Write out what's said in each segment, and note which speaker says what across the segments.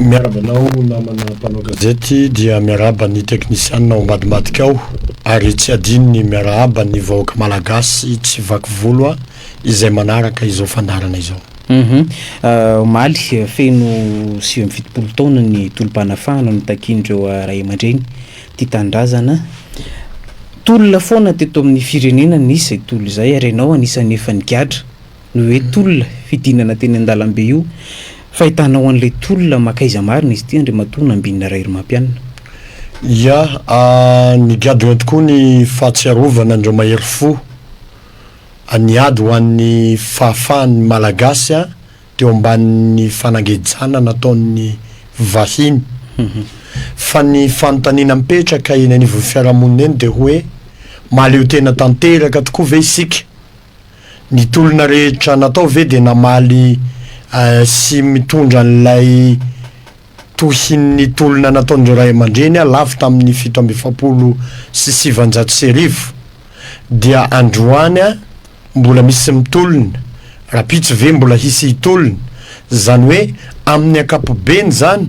Speaker 1: Miarahaba anao namana mpanao gazety dia miarahaba ny teknisianina ao ambadimbadika ao ary tsy adino ny miarahaba ny vahoaka malagasy tsy vaky volo izay manaraka izao fandaharana izao. Humm omaly
Speaker 2: feno sivy amby fitopolo taona ny tolom-panafahana notakian'ireo ray aman-dreny tia tanindrazana. Tolona foana teto amin'ny firenena nisy izay tolo izay ary ianao anisan'ny efa nigadra noho hoe tolona fidinana teny an-dalambe io. Fahitanao an'ilay tolona makaiza marina izy ity Andriamatoa Nambinina Raherimampianina? Ya,
Speaker 1: nigadona tokoa ny fahatsiarovana an'ireo mahery fo A Ny ady ho an'ny fahafahan'ny Malagasy teo ambanin'ny fanangejana nataon'ny vahiny. Fa ny fanontaniana mipetraka eny anivon'ny fiarahamonina eny dia hoe mahaleo tena tanteraka tokoa ve isika? Ny tolona rehetra natao ve dia namaly sy mitondra an'ilay Tohin'ny tolona nataon'ireo ray aman-dreny lavo tamin'ny fito amby efapolo sy sivanjato sy arivo dia androany mbola misy mitolona, rapitso ve mbola hisy hitolona? Izany hoe amin'ny ankapobeny izany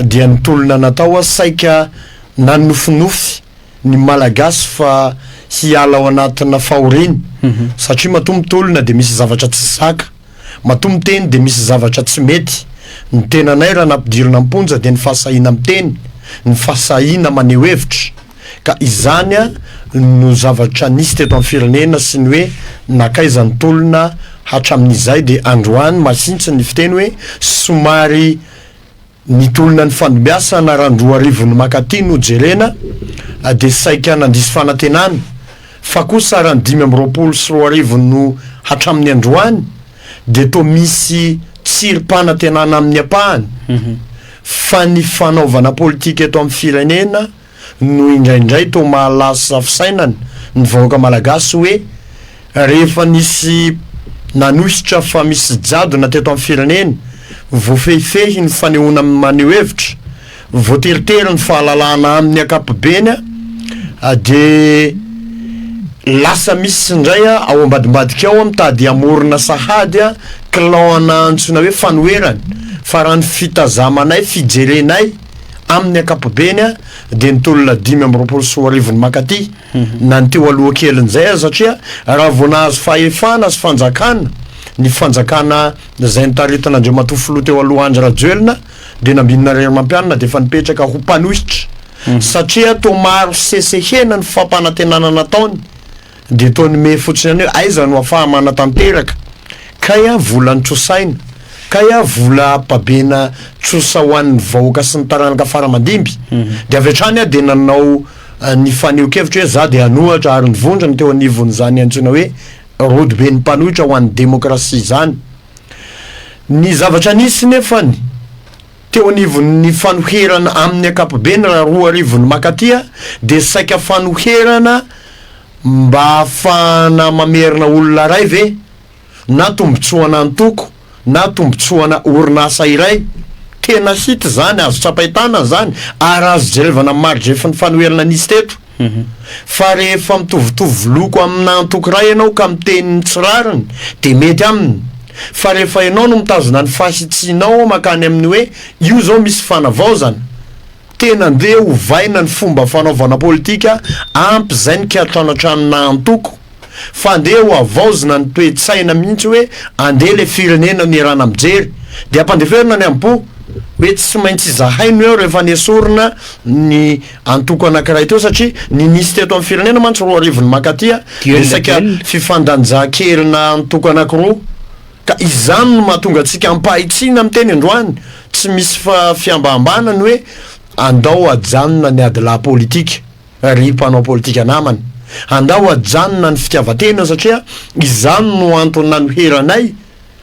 Speaker 1: dia ny tolona natao saika nanofinofy ny Malagasy fa hiala ao anatina fahoriana satria matoa mitolona dia misy zavatra tsy zaka. Matoa miteny dia misy zavatra tsy mety, ny tenanay raha nampidirina am-ponja dia ny fahasahiana miteny, ny fahasahiana maneho hevitra, ka izany no zavatra nisy teto amin'ny firenena sy ny hoe nankaiza ny tolona hatramin'izay dia androany masintsiny ny fiteny hoe somary Nitolona ny fandimbasana raha ny roa arivo ny makaty no jerena dia saika nandiso fanantenana fa kosa raha ny dimy amby roapolo sy roa arivo no hatramin'ny androany dia toa misy tsirim-panantenana amin'ny ampahany fa ny fanaovana politika eto amin'ny firenena no indraindray toa mahalasa fisainana ny vahoaka malagasy hoe rehefa nisy nanohitra fa misy jadona teto amin'ny firenena, voafehifehy ny fanehoana maneho hevitra, voateritery ny fahalalahana amin'ny ankapobeny dia lasa misy indray ao ambadimbadika ao mitady hamorona sahady clan antsoina hoe fanoherana fa raha ny fitazamanay, fijerenay, Amin'ny ankapobeny dia ny tolona dimy amby roapolo sy roa arivo no mankaty na ny teo aloha kelin'izay aza satria raha vao nahazo fahefana sy fanjakana ny fanjakana izay nitaritina Andriamatoa Filoha teo aloha Andry Rajoelina dia nambinina irery mampianina dia efa nipetraka ho mpanohitra satria toa maro sesehena ny fampanantenana nataony Dia toa ny mehy fotsiny ihany hoe aiza no afaha-manatanteraka, kay a vola nitrosaina, kay a vola babena trosa ho an'ny vahoaka sy ny taranaka fara aman-dimby. Dia avy hatrany aho dia nanao ny faneho-kevitro hoe za dia hanohatra ary ny vondrona teo anivon'izany antsoina hoe Rodoben'ny mpanohitra ho an'ny demokrasia izany. Ny zavatra nisy nefany, Teo anivon'ny fanoherana amin'ny ankapobeny raha roa arivo ny makaty dia saika fanoherana mba hahafahana mamerina olona iray ve? Na tombotsoana antoko na tombotsoana orinasa iray? Tena hita izany, azo tsapain-tanana izany ary azo jerevana amin'ny maridrefin'ny fanoherana nisy teto. Fa rehefa mitovitovy loko aminà antokiray ianao ka miteny ny tsy rariny, dia mety aminy. Fa rehefa ianao no mitazona ny fahasitsianao mankany amin'ny hoe io izao misy fanavaozana, tena andeha ovaina ny fomba fanaovana politika ampy izay ny kiantanan-tranonà antoko, fa ndeha ho havaozina ny toe-tsaina mihitsy hoe andeha ilay firenena nierana mijery dia ampandeferina ny am-po hoe tsy maintsy izahay no eo rehefa nesorina ny antoko anankiray teo satria ny nisy teto amin'ny firenena mantsy roa arivo ny mankaty resaka fifandanjahan-kerina antoko anankiroa ka izany no mahatonga antsika ampahitsiana miteny androany tsy misy fihambahambanany hoe andao hajanona ny adilahy politika Ry mpanao politika namana, andao ajanona ny fitiavan-tena satria izany no antony nanoheranay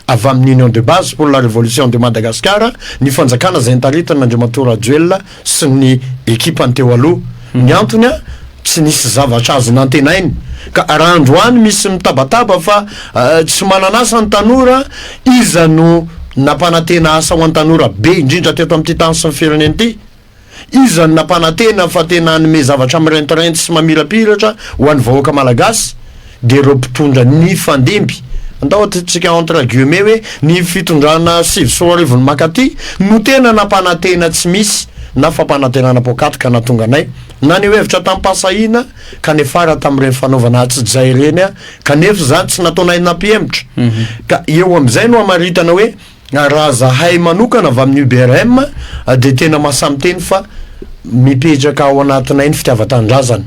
Speaker 1: avy amin'ny Union de Base pour la Révolution de Madagascar ny fanjakana izay notaritin'Andriamatoa Rajoelina sy ny ekipany teo aloha. Ny antony, tsy nisy zavatra azo nantenaina ka raha androany misy mitabataba fa tsy manan'asa ny tanora, iza no nampanantena asa ho an'ny tanora be indrindra teto amin'ity tany sy ny firenena ity? Iza no nampanantena fa tena hanome zavatra mirentireinty sy mamirapiratra ho an'ny vahoaka Malagasy dia ireo mpitondra nifandimby, andao ataontsika entre guillemets hoe ny fitondrana sivy sy roa arivo ny makaty no tena nampanantena tsy misy na fampanantenana poakaty ka nahatonga anay naneho hevitra tamim-pahasahiana ka niafara tamin'ireny fanaovana hatsi-jay ireny kanefa izany tsy nataonay nampihemotra ka eo amin'izay no hamaritana hoe Raha zahay manokana avy amin'ny UBRM dia tena mahasahy miteny fa mipetraka ao anatinay ny fitiavan-tanindrazana.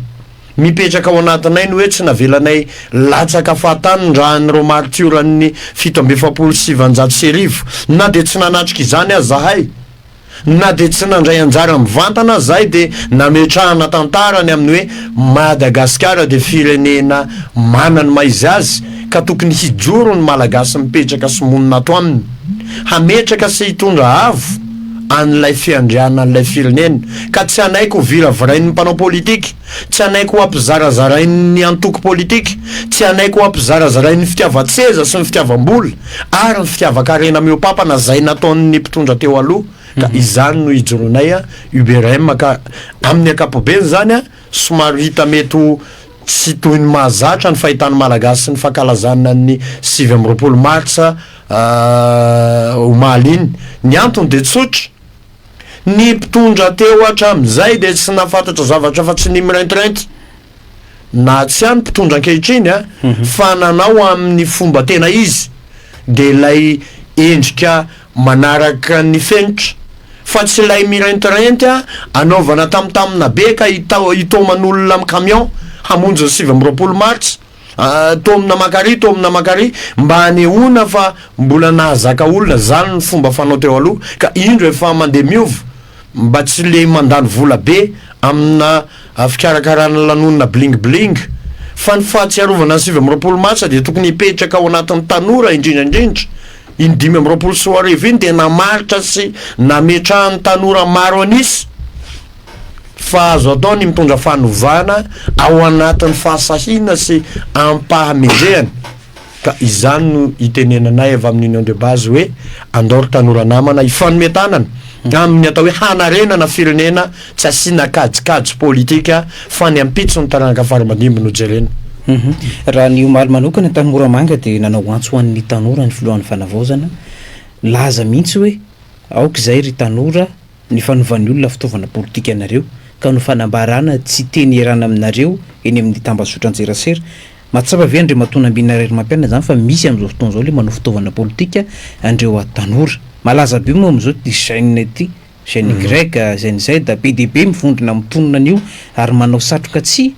Speaker 1: Mipetraka ao anatinay ny hoe tsy navelanay latsaka fahatany ny ràn'ireo maritioran'ny fito amby efapolo sy sivinjato sy arivo, na dia tsy nanatrika izany aza zahay. Na dia tsy nandray anjara mivantana aza izahay dia nametrahana tantara ny amin'ny hoe Madagasikara dia firenena manana ny maha izy azy ka tokony hijoro ny Malagasy mipetraka sy monina ato aminy hametraka sy hitondra avo an'ilay fiandrianan'ilay firenena ka tsy hanaiky ho viravirain'ny mpanao politika Tsy hanaiky ho ampizarazarain'ny antoko politika, tsy hanaiky ho ampizarazarain'ny fitiavan-tseza sy ny fitiavam-bola ary ny fitiavan-karena mihoa-pampana izay nataon'ny mpitondra teo aloha ka izany no ijoroanay UBRM ka amin'ny ankapobeny izany somary hita mety ho tsy toy ny mahazatra ny fahitan'ny Malagasy ny fankalazana ny sivy amby roapolo martsa omaly iny. Ny antony dia tsotra. Ny mpitondra teo hatramin'izay dia tsy nahafantatra zavatra afa-tsy ny mirentireinty, na tsy hany mpitondra ankehitriny a, mhm. fa nanao amin'ny fomba tena izy dia ilay endrika manaraka ny fenitra fa tsy ilay mirentireinty a anaovana tamtamina be ka hitaoman'olona amin'ny camion hamonjy ny sivy amby roapolo martsa Tomina makary tomina makary mba hanehoana fa mbola nahazaka olona zany ny fomba fanao teo aloha ka indro efa mandeha miova mba tsy le mandany vola be amina fikarakarana lanonina bling bling fa ny fahatsiarovana ny sivy amby roapolo marsa dia tokony hipetraka ao anatin'ny tanora indrindra indrindra iny dimy amby roapolo sy roa arivo iny dia namaritra sy nametrahan'ny tanora maro an'isa fa azo atao ny mitondra fanovana ao anatin'ny fahasahiana sy am-pahamendrehana ka izany no itenenanay avy amin'ny Union de Base hoe andao ry tanora namana hifanome tanana amin'ny atao hoe hanarenana firenena tsy asiana kajikajy politika fa ny ampitso ny taranaka faramadimby no jerena. Mhm. Raha
Speaker 2: ny omaly manokana tany Moramanga dia nanao antso ho an'ny tanora ny filohan'ny fanavaozana, nilaza mihitsy hoe aoka izay ry tanora, ny fanovan'ny olona fitaovana politika anareo ka no fanambarana tsy teny ierana aminareo eny amin'ny tambazotran-tserasera, mahatsapa ve Andriamatoa Nambinarairimampianina izany fa misy amin'izao fotoana izao ilay manao fitaovana politika andreo tanora? Malaza be moa amin'izao ity Gen ity, Gen Y, Gen Z, be dia be mivondrona mitonona an'io ary manao satroka tsihy,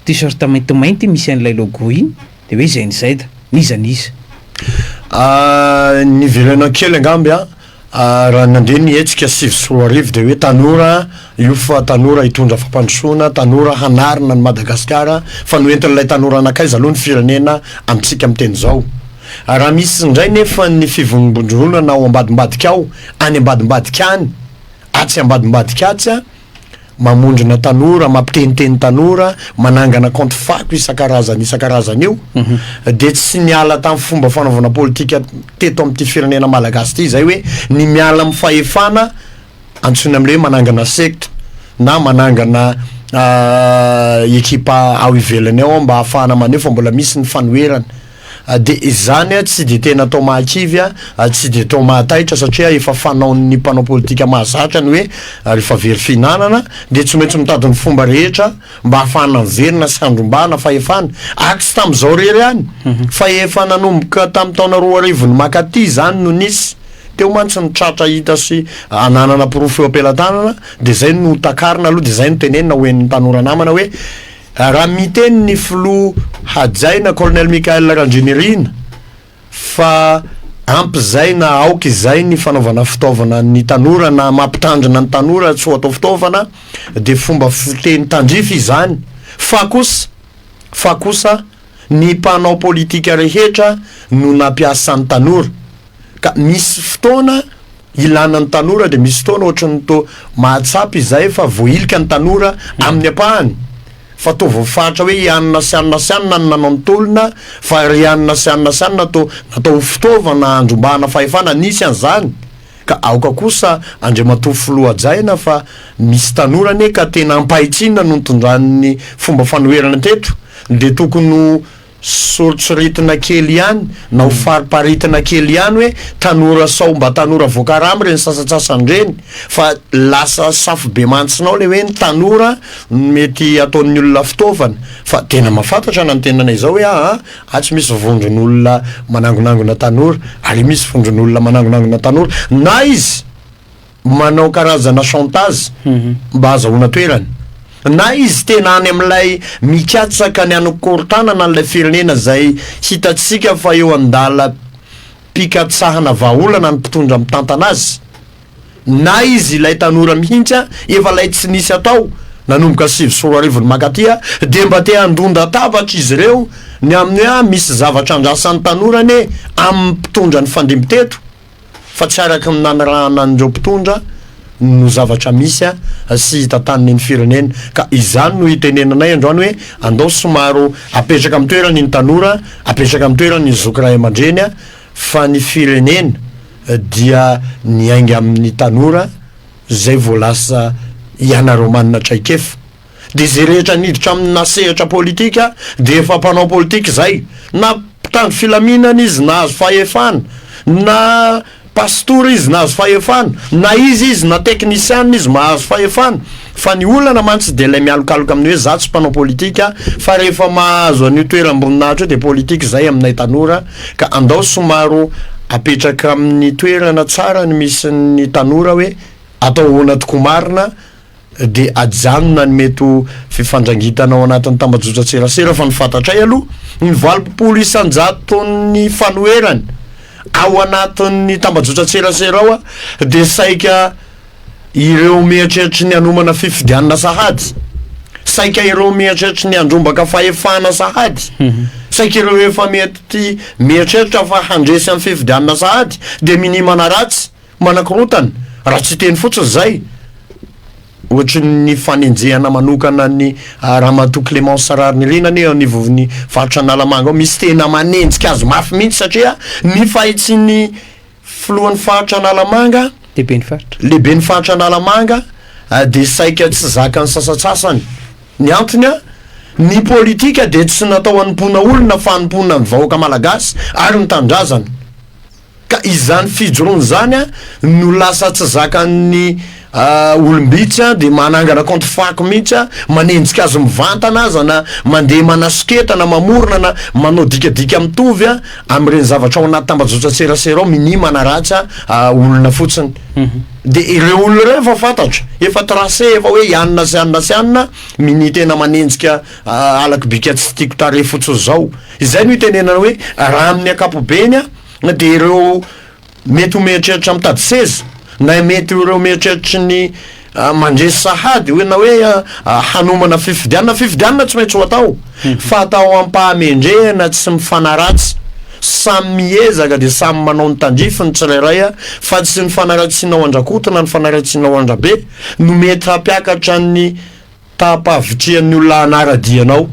Speaker 2: T-shirt maintimainty misy an'ilay logo iny dia hoe izay nizay da n'iza n'iza.
Speaker 1: Niverenao kely angamba an! Raha nandeha ny hetsika sivy sy roa arivo dia hoe tanora io fa tanora hitondra fampandrosoana, tanora hanarina an'i Madagasikara fa noentin'ilay tanora nankaiza aloha ny firenena amintsika miteny izao? Raha misy indray nefa ny fivonbondronana ao ambadimbadika ao, any ambadimbadika any, atsy ambadimbadika atsy an! mamondrona tanora, mampiteniteny tanora, manangana kaonty fako isan-karazany isan-karazany io, mhm. dia tsy niala tamin'ny fomba fanaovana politika teto amin'ity firenena malagasy ity izay hoe ny miala amin'ny fahefana antsoina amin'ilay hoe manangana secte na manangana ah, ekipa ao ivelany ao mba hahafahana maneho fa mbola misy ny fanoherana. Dia izany tsy dia tena atao mahakivy, tsy dia atao mahataitra satria efa fanaon'ny mpanao politika mahazatra ny hoe rehefa very fihinanana dia tsy maintsy mitady ny fomba rehetra mba hahafahana miverina sy handrombahana fahefana. Ary tsy tamin'izao irery ihany fa efa nanomboka tamin'ny taona roa arivo ny makaty izany no nisy. Teo mantsy ny tratra hita sy ananana porofo eo am-pelatanana dia izay no takarina aloha dia izay no tenenina ho henon'ny tanora namana hoe, Raha miteny ny filoha hajaina Colonel Michael Randrianirina fa ampy izay na aoka izay ny fanaovana fitaovana ny tanora na mampitandrina ny tanora tsy ho atao fitaovana dia fomba fiteny tandrify izany fa kosa fa kosa ny mpanao politika rehetra no nampiasa ny tanora ka misy fotoana Ilana ny tanora dia misy fotoana ohatran'ny toa mahatsapa izay fa voahilika ny tanora amin'ny ampahany fa toa voafaritra hoe i anona sy anona sy anona no nanao ny tolona fa ry anona sy anona sy anona toa natao ho fitaovana handrombahana fahefana nisy an'izany ka aoka kosa Andriamatoa Filoha hajaina fa misy tanora anie ka tena ampahitsina no nitondran'ny fomba fanoherana teto dia tokony ho Soritsorintina kely ihany na ho fariparitina kely ihany hoe tanora sao mba tanora voakarama ireny sasatsasany ireny fa lasa safo-bemantsinao ilay hoe ny tanora no mety ataon'ny olona fitaovana fa tena mahafantatra na ny tenanay izao hoe aa atsy misy vondron'olona manangonangona tanora, ary misy vondron'olona manangonangona tanora na izy. manao karazana chantage mba hazahoana toerana. Na izy tena any amin'ilay mikatsaka ny hanokorontanana an'ilay firenena izay hitantsika fa eo an-dalam-pikatsahana vahaolana ny mpitondra mitantana azy, na izy ilay tanora mihitsy efa ilay tsy nisy atao nanomboka sivy sy roa arivo ny mankaty dia mba te handondatabatra izy ireo ny amin'ny hoe misy zavatra andrasan'ny tanora anie amin'ny mpitondra nifandimby teto. Fa tsy araka ny nanirahana an'ireo mpitondra no zavatra misy sy hita tany neny firenena ka izany no itenenanay androany hoe andao somaro apetraka amin'ny toerany ny tanora apetraka amin'ny toerany ny zoky ray aman-dreny fa ny firenena dia miainga amin'ny tanora zay vao lasa ianareo manana traikefa dia izay rehetra niditra amina sehatra politika dia efa mpanao politika izay, na mpitandro filaminana izy nahazo fahefana, na pasitora izy nahazo fahefana, na iza izy, na teknisiana izy mahazo fahefana, fa ny olana mantsy dia ilay mialokaloka amin'ny hoe za tsy mpanao politika fa rehefa mahazo an'io toeram-boninahitra io dia politika izay aminay tanora ka andao somaro apetraka amin'ny toerana tsara ny misy ny tanora hoe atao ahoana tokoa marina dia ajanona ny mety ho fifandrangitana ao anatin'ny tambajotran-tserasera fa ny fantatray aloha ny valopolo isan-jaton'ny fanoherany ao anatin'ny tambajotran-tserasera ao dia saika ireo mieritreritra ny hanomana fifidianana sahady saika ireo mieritreritra ny handrombaka fahefana sahady mhm. saika ireo efa mety mieritreritra fa handresy amin'ny fifidianana sahady dia minimana ratsy Manakorontana raha tsy teny fotsiny izay, ohatry ny fanenjehana manokana an'i Ramatoa Clémence Raharinirina anie ao anivon'ny faritra Analamanga ao misy tena manenjika azy mafy mihitsy satria ny fahitsin'ny filohan'ny faritra Analamanga, Lehiben'ny faritra. Lehiben'ny faritra Analamanga dia saika tsy zakan'ny sasantsasany. Ny antony, ny politika dia tsy natao hanompoana olona fa hanompoana ny vahoaka malagasy ary ny tanindrazana. Ka izany fijoroany izany an no lasa tsy zakan'ny olom-bitsy an dia manangana kaonty fako mihitsy an, manenjika azy mivantana aza na mandeha manasoketa na mamorona na manao dikadika mitovy an amin'ireny zavatra ao anaty tambajotran-tserasera ao, minia manaratsy an olona fotsiny. Dia ireo olona ireo efa fantatra, efa tracer efa hoe ianona sy ianona sy ianona, minia tena manenjika halako bika tsy tiako tarehy fotsiny izao. Izay no itenenana hoe raha amin'ny ankapobeny dia ireo mety ho mieritreritra mitady seza na mety ho ireo mieritreritry ny mandresy sahady hoe na hoe hanomana fifidianana, fifidianana tsy maintsy ho atao fa atao am-pahamendrehana tsy mifanaratsy, samy miezaka dia samy manao ny tandrify ny tsirairay fa tsy ny fanaratsiana ao an-dRakoto na ny fanaratsiana ao an-dRabe no mety hampiakatra ny Taham-pahavitrihan'ny olona hanara-dia anao,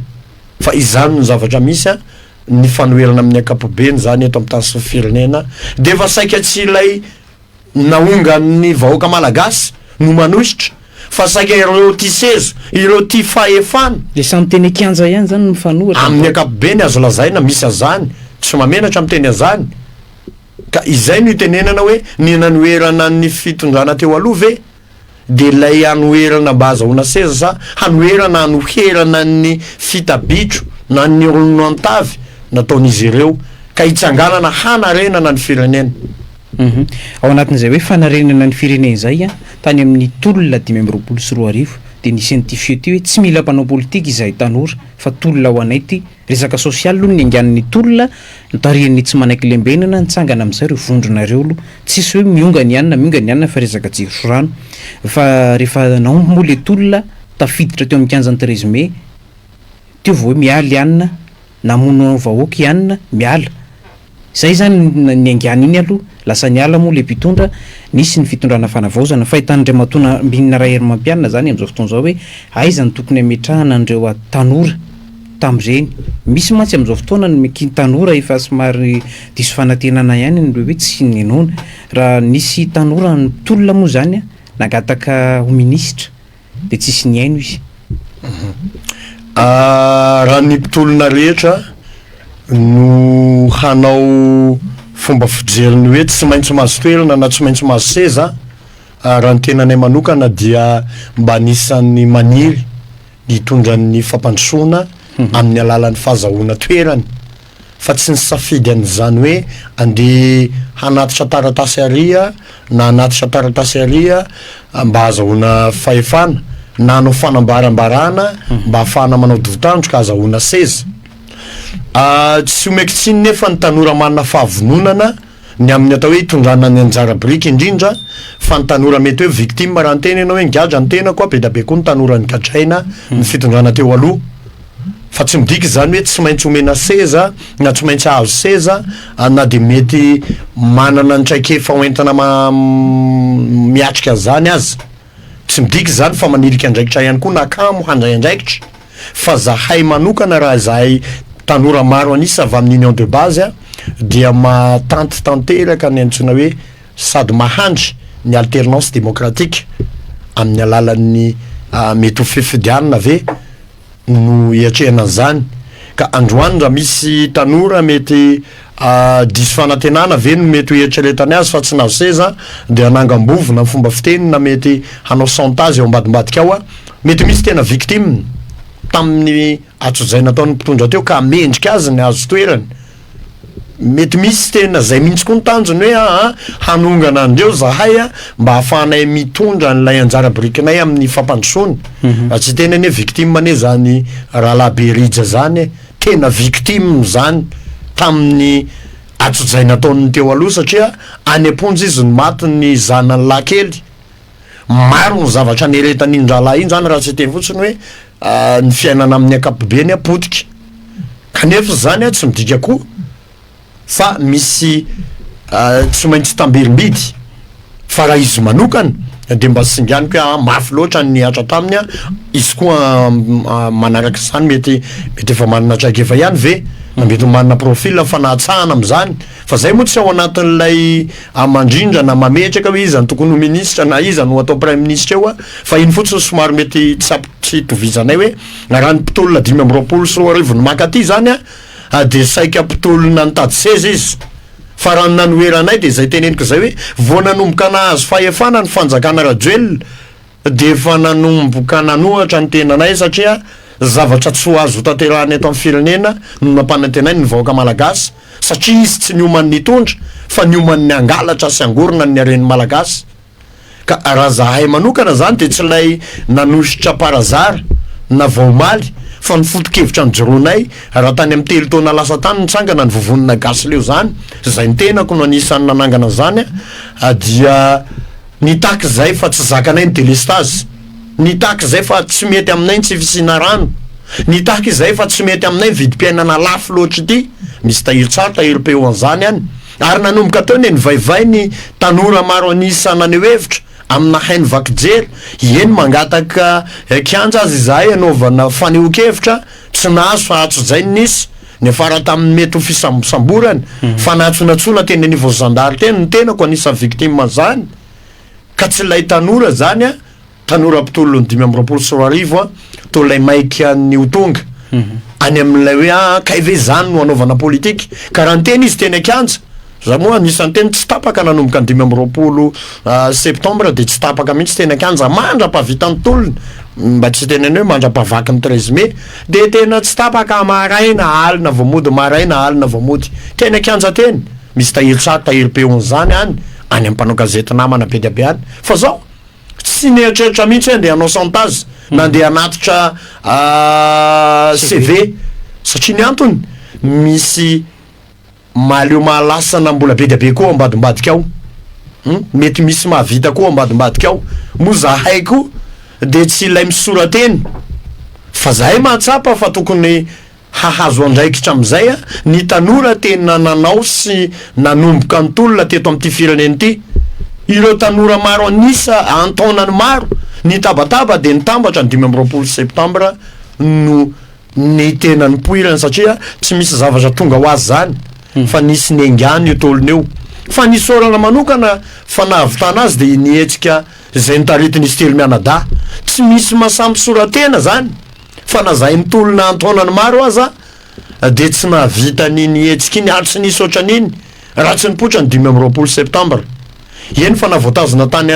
Speaker 1: fa izany no zavatra misy an! ny fanoherana amin'ny ankapobeny izany eto amin'ny tany sy ny firenena dia efa saika tsy ilay naongan'ny vahoaka malagasy no manohitra fa saika ireo tia seza, ireo tia fahefana. Ilay samy teny
Speaker 2: an-kianja ihany izany no mifanohitra. Amin'ny ankapobeny azo
Speaker 1: lazaina misy an'izany, tsy mahamenatra miteny an'izany. Ka izay no itenenana hoe ny nanoherana ny fitondrana teo aloha ve? dia ilay hanoherana mba hazahoana seza sa hanoherana hanoherana ny fita bitro na ny olon antavy nataon'izy ireo ka hitsanganana hanarenana ny firenena? Uhum.
Speaker 2: Ao anatin'izay hoe fanarenana ny firenena izay an, tany amin'ny tolona dimy amby roapolo sy roa arivo dia nisy an'ity feo ity hoe tsy mila mpanao politika izahay tanora fa tolona ho anay ity, Resaka sosialy aloha ny niangan'ny tolona notarihan'ny tsy manaiky lembenana nitsangana amin'izay ireo vondrona ireo aloha. Tsisy hoe mionga ny anona mionga ny anona fa resaka jiro sy rano. Fa rehefa naomby moa ilay tolona tafiditra teo amin'ny kianjan'ny treize mai teo vao hoe miala i anona namono vahoaka i anona miala. Zay zany niaingany iny aloha lasa niala moa le mpitondra, nisy ny fitondrana fanavaozana, fahitan'Andriamatoa Nambinina Raherimampianina zany amzao fotoana zao hoe aiza no tokony ametrahana an'ireo a tanora tamzeny, misy mantsy amzao fotoana ny kin tanora efa somary diso fanantenana ihany ny hoe tsy ninoana, raha nisy tanora nitolona moa zany a nangataka ho minisitra, dia tsisy nihaino izy. Ahh
Speaker 1: raha ny
Speaker 2: mpitolona
Speaker 1: rehetra
Speaker 2: no
Speaker 1: hanao fomba fijeriny hoe tsy maintsy mahazo toerana na tsy maintsy mahazo seza ah, raha ny tenanay manokana dia mba anisan'ny maniry ny hitondra ny fampandrosoana amin'ny alalan'ny fahazahoana toerany. fa tsy nisafidy an'izany hoe andeha hanatitra taratasy àry aho na hanatitra taratasy àry aho mba hahazahoana fahefana na hanao fanambarambarana mba hahafahana manao divo-tandroka hahazahoana seza. Tsy omeko tsiny nefa ny tanora manana fahavononana. Ny amin'ny atao hoe itondrana ny anjara biriky indrindra fa ny tanora mety hoe victime raha niteny ianao hoe nigadra ny tenako aho, be dia be koa ny tanora nigadraina ny fitondrana teo aloha fa tsy midika izany hoe tsy maintsy omena seza na tsy maintsy hahazo seza na dia mety manana ny traikefa hoentina miatrika an'izany aza. Tsy midika izany fa manilika andraikitra ihany koa na kamo handray andraikitra fa zahay manokana raha izahay tanora maro an'isa avy amin'ny union de base dia mahatanty tanteraka ny antsoina hoe sady mahandry ny alternance démocratique amin'ny alalan'ny mety ho fifidianana ve no iatrehana an'izany ka androany raha misy tanora mety diso fanantenana ve no mety ho eritreretany azy fa tsy nahazo seza dia hanangam-bovona fomba fiteny na mety hanao chantage eo ambadimbadika ao a mety misy tena victime tamin'ny atsojay nataon'ny mpitondra teo ka mendrika azy ny hahazo toerany Mety misy tena zay mihitsy koa ny tanjony hoe aa hanongana andreo zahay a mba ahafahanay mitondra an'ilay anjara birikinay amin'ny fampandrosoana mhm. fa tsy tena anie victime anie zany rahalahy be rija zany e tena victime zany tamin'ny atsojay nataon'ny teo aloha satria any am-ponja izy no maty ny zanany lahy kely Maro ny zavatra nieretan'iny rahalahy iny zany raha tsy teny fotsiny hoe ny fiainana amin'ny ankapobeny a potika. Kanefa zany a tsy midika koa fa misy tsy maintsy tamberim-bidy fa raha izy manokana de mba singaniko hoe a mafy loatra ny nihatra taminy a izy koa manaraka izany mety mety efa manana traikefa ihany ve na mety manana profil fa nahatsahana amin'izany Fa zay moa tsy ao anatin'ilay hamandrindra na mametraka hoe iza no tokony ho ministra na iza no ho atao praiminisitra eo a! Fa iny fotsiny somary mety tsapy tsy itovizanay hoe raha ny mpitolona dimy amby roapolo sy roa arivo no maka aty izany a! a dia saika mpitolona nitady seza izy! Fa raha ny nanoheranay dia izay teneniko izay hoe vao nanomboka nahazo fahefana ny fanjakana Rajoelina dia efa nanomboka nanohatra ny tenanay satria zavatra tsy ho azo hotanterahina eto amin'ny firenena no nampanantenainy ny vahoaka malagasy satria izy tsy nioman'ny hitondra fa nioman'ny hangalatra sy hangorona ny haren'ny malagasy ka raha zahay manokana zany dia tsy ilay nanosotra par hasard na vao omaly fa ny foto-kevitra nijoroanay raha tany amin'ny telo taona lasa tany nitsangana ny vovonina gasy leo zany izay ny tenako no anisan'ny nanangana an'izany dia Nitaky izay fa tsy zakanay ny delestazy, nitaky izay fa tsy mety aminay ny tsy fisiana rano, nitaky izay fa tsy mety aminay ny vidim-piainana lafo loatra ity, misy tahiry tsara, tahiry peu an'izany any, ary nanomboka teo ny nivaivay ny tanora maro an'isa naneho hevitra amina haino vaky jery, eny mangataka kianja aza izahay hanaovana fanehoan-kevitra, tsy nahazo fa hatrizay ny nisy, Niafara tamin'ny mety ho fisambosamborana, fanatsonatsoana teny anivon'ny zandary teny ny tenako, anisan'ny victime an'izany ka tsy ilay tanora izany aho, tanora mpitolon'ny dimy amby roapolo sy roa arivo aho, toa ilay maika an'ny ho tonga, any amin'ilay hoe, ah kay ve izany no hanaovana politika? ka raha niteny izy teny an-kianja, Za moa anisan'ny teny tsy tapaka nanomboka ny dimy amby roapolo septembre de tsy tapaka mihitsy teny an-kianja mandra-pahavitan'ny tolona, mba tsy hiteny an'io hoe mandra-pahavaky ny treize mai, de tena tsy tapaka maraina alina vao mody, maraina alina vao mody, teny an-kianja teny, misy tahiry tsara tahiry peon zany any, any amin'ny mpanao gazety namana be dia be any, fa zao tsy nieritreritra mihitsy hoe andeha hanao chantage na andeha hanatitra CV satria ny antony misy Mahaleo mahalasana mbola be dia be koa ao ambadimbadika ao hum mety misy mahavita koa ao ambadimbadika ao moa zahay koa dia tsy ilay misora-teny fa zahay mahatsapa fa tokony hahazo andraikitra amin'izay a ny tanora tena nanao sy nanomboka ny tolona teto amin'ity firenena ity ireo tanora maro an'isa an-taonany maro nitabataba dia nitambatra ny dimy amby roapolo septambra no ny tena nipoirany satria tsy misy zavatra tonga ho azy zany hmm. fa nisy nengany io tolona io fa nisy orana manokana fa nahavitana azy dia nihetsika izay nitaritin'izy telo mianadahy tsy misy masampisoratena zany fa na zahay nitolona antaonany maro aza dia tsy nahavita ny nihetsika iny ary tsy nisy ohatran'iny raha tsy nipoitra ny dimy amby roapolo septambra eny fa navoatazona tany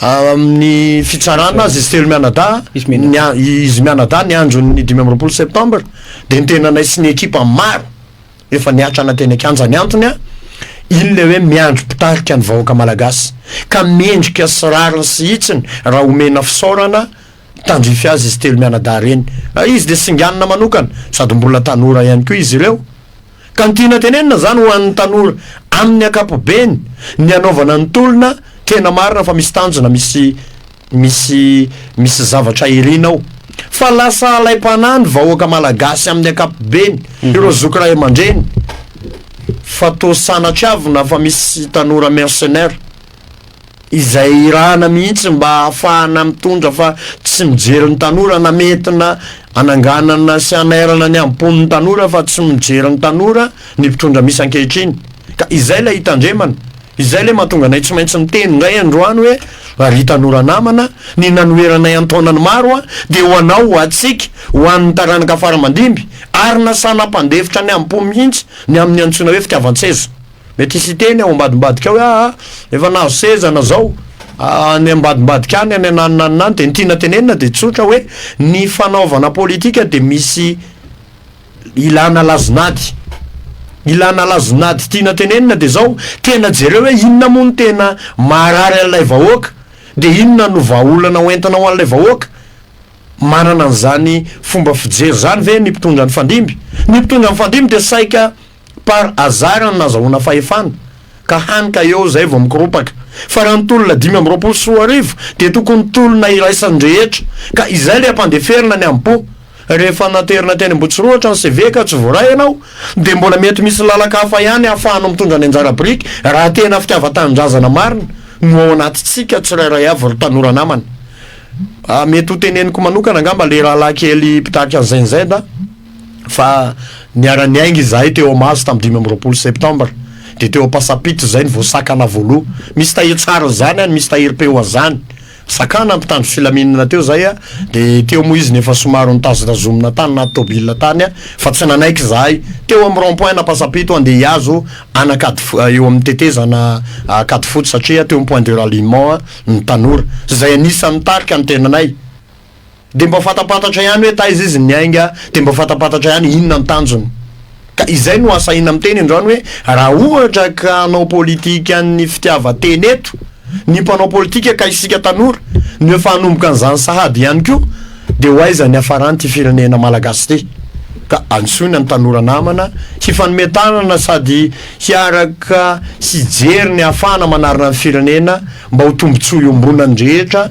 Speaker 1: amin'ny fitsarana azy izy telo mianadahy, izy mianadahy ny andron'ny dimy amby roapolo septambra dia ny tenanay sy ny ekipa maro efa niatrana teny an-kianja ny antony an iny le hoe miandry mpitarika ny vahoaka malagasy ka mendrika sy rariny sy hitsiny raha omena fisaorana tandrify azy izy telo mianadahy reny izy dia singanina manokana sady mbola tanora ihany koa izy ireo ka ny tiana tenenina izany ho an'ny tanora amin'ny ankapobeny ny hanaovana ny tolona tena marina fa misy tanjona misy misy misy zavatra irina ao fa lasa alaim-panahy ny vahoaka malagasy amin'ny ankapobeny ireo zoky ray aman-dreny fa toa sanatry avy na fa misy tanora mercenaire izay irahana mihitsy mba hahafahana mitondra fa tsy mijery ny tanora na mety na hananganana sy hanairana ny hambom-pon' ny tanora fa tsy mijery ny tanora ny mpitondra misy ankehitriny ka izay ilay hitandremana izay ilay mahatonga anay tsy maintsy miteny indray androany hoe ry tanora namana ny nanoheranay an-taonany maro a dia ho anao ho antsika ho an' ny taranaka faramandimby ary nasana hampandefitra ny hambom-pon mihitsy ny amin' ny antsoina hoe fitiavan-tseza Mety hisy hiteny ao ambadimbadika ao hoe aa efa nahazo seza na zao any ambadimbadika any any ananonanona any dia ny tiana tenenina dia tsotra hoe ny fanaovana politika dia misy ilana lazonady ilana lazonady tiana tenenina dia zao tena jereo hoe inona moa no tena maharary an'ilay vahoaka dia inona no vahaolana ho entina ho an'ilay vahoaka manana an'izany fomba fijery izany ve ny mpitondra nifandimby ny mpitondra nifandimby dia saika Par hasard no nazahoana fahefana, ka hany ka eo izay vao mikoropaka. Fa raha ny tolona dimy amby roapolo sy roa arivo dia tokony tolona iraisan'ny rehetra, ka izay ilay hampandeferina ny am-po. Rehefa naterina teny Ambohitsorohatra ny CV ka tsy voaray ianao, dia mbola mety misy lalaka hafa ihany ahafahanao mitondra ny anjara biriky, raha tena fitiavan-tanindrazana marina no ao anatintsika tsirairay avy ry tanora namana. Mety ho teneniko manokana angamba ilay rahalahy kely mpitarika ny Gen Z. fa niara-niainga izahay teo Mahazo tamin'ny dimy amby roapolo septembre dia teo Ampasampito izay no vao sakana voaloha. Misy tahiry tsara an'izany any, misy tahiry pe ho azany. Sakana mpitandro filaminana teo izay a, dia teo moa izy no efa somary nitazotazomina tany naty tôbila tany a, fa tsy nanaiky izahay. Teo amin'ny rond point an'Ampasampito andeha hihazo an'Ankady eo amin'ny tetezana Ankadifotsy satria teo amin'ny point de ralliement ny tanora izay anisan'ny nitarika ny tenanay. dia mba fantampantatra ihany hoe taiza izy niainga, dia mba fantampantatra ihany inona ny tanjony. Ka izay no asahina miteny androany hoe raha ohatra ka hanao politikan'ny fitiavan-tena eto ny mpanao politika ka isika tanora no efa hanomboka an'izany sahady ihany koa dia ho aiza ny hafaran'ity firenena malagasy ity. Ka antsoina ny tanora namana hifanome tanana sady hiaraka hijery ny hahafahana manarina ny firenena mba ho tombontsoa iombonan'ny rehetra